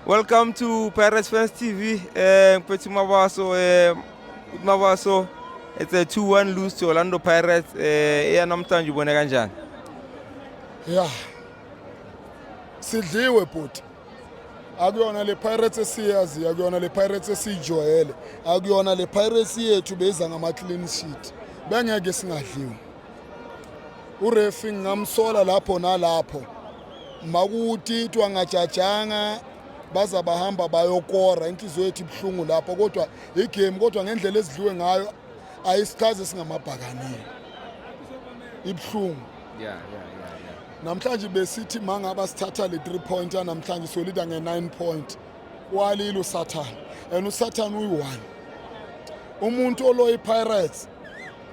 Welcome to Pirates Fans TV. Um, eh, Petit Mabaso, um, eh, Mabaso, it's a 2-1 lose to Orlando Pirates. Um, eh, yeah, namhlanje ubone kanjani? Yeah. Sidliwe bhuti. akuyona le Pirates esiyaziyo akuyona le Pirates esiyijwayele akuyona le Pirates yethu beza ngama clean sheet bengeke singadliwa urefi ngingamsola lapho nalapho makutitwa ngajajanga baza bahamba bayokora inhliziyo yethu ibuhlungu lapho kodwa igame kodwa ngendlela ezidliwe ngayo ayisichazi singamabhakanile ibuhlungu yeah, yeah, yeah, yeah. namhlanje besithi mangaba sithatha le 3 point namhlanje solida nge 9 point walile usathane and usathane uyi-one umuntu oloyi-pirates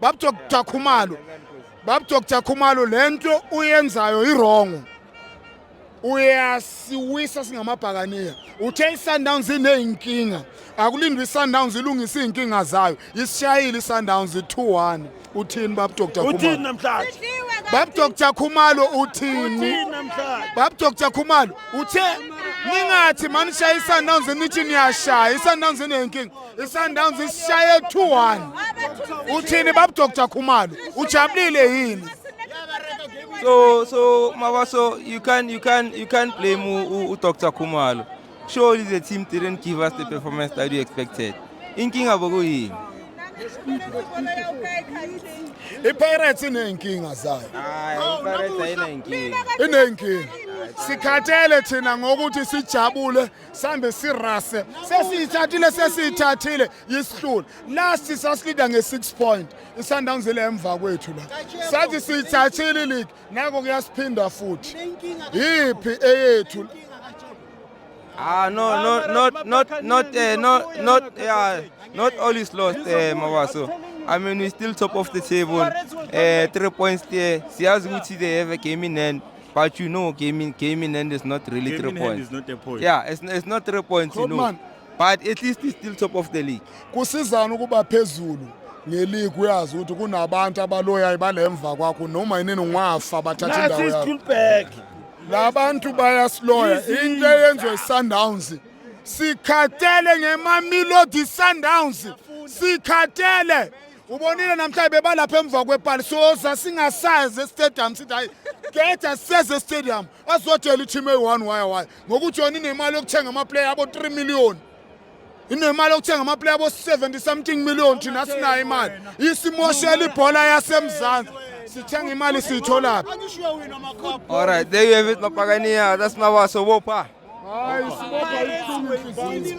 Bab Dr Khumalo Bab Dr Khumalo lento uyenzayo irongo uyasiwisa singamabhakaniya uthe iSundowns ineyinkinga akulindwe iSundowns ilungise izinkinga zayo isishayile iSundowns 2-1 uthini bab Dr Khumalo uthini namhlanje bab Dr Khumalo uthini bab Dr Khumalo uthe ningathi manishaya iSundowns nithi niyashaya iSundowns ineyinkinga isundowns isishaye 2-1 uthini babudoktar khumalo ujabulile yini so so mabaso you can you can you can blame udoktar khumalo surely the team didn't give us the performance that we expected inkinga bokuyini ipirates iney'nkinga zayo iney'nkinga sikhathele thina ngokuthi sijabule sambe sirase sesiyithathile sesiyithathile yisihlula last sasilida nge-6 point isundowns ile emva kwethu la sathi siyithathile league nako kuyasiphinda futhi yiphi eyethu Ah no no not not not uh, not not yeah not all is lost uh, eh, Mawaso. I mean we still top of the table. Uh, three points there. Siyazi ukuthi they have a game in hand. But you know, came in, came in hand is not really Game three in hand points. is not a point. Yeah, it's, it's not three points, you know. Klopman. But at least it's still top of the league. kusizana ukuba phezulu ngeligi uyazi ukuthi kunabantu abaloyayo balemva kwakho noma yinini ungafa bathatha indawo Nathi yakho Stulberg. labantu bayasiloya into eyenziwe isundowns sikhathele ngemamilodi sundowns sikhathele ubonile namhlanje bebalapha emva kwepali soza singasazi estadium sithi hayi khetha siseze estadium azotshela i-team eyi-one waya waya ngokuthi yona inemali yokuthenga amaplayer abo-three million inemali yokuthenga amaplayer abo-seventy something million thina sinayo imali isimoshela ibhola yasemzansi sithenga imali siyitholaphi All right, there you have it, Mapagania. That's Mawaso Wopa. hayi sibopha ibuhlungu inhliziyo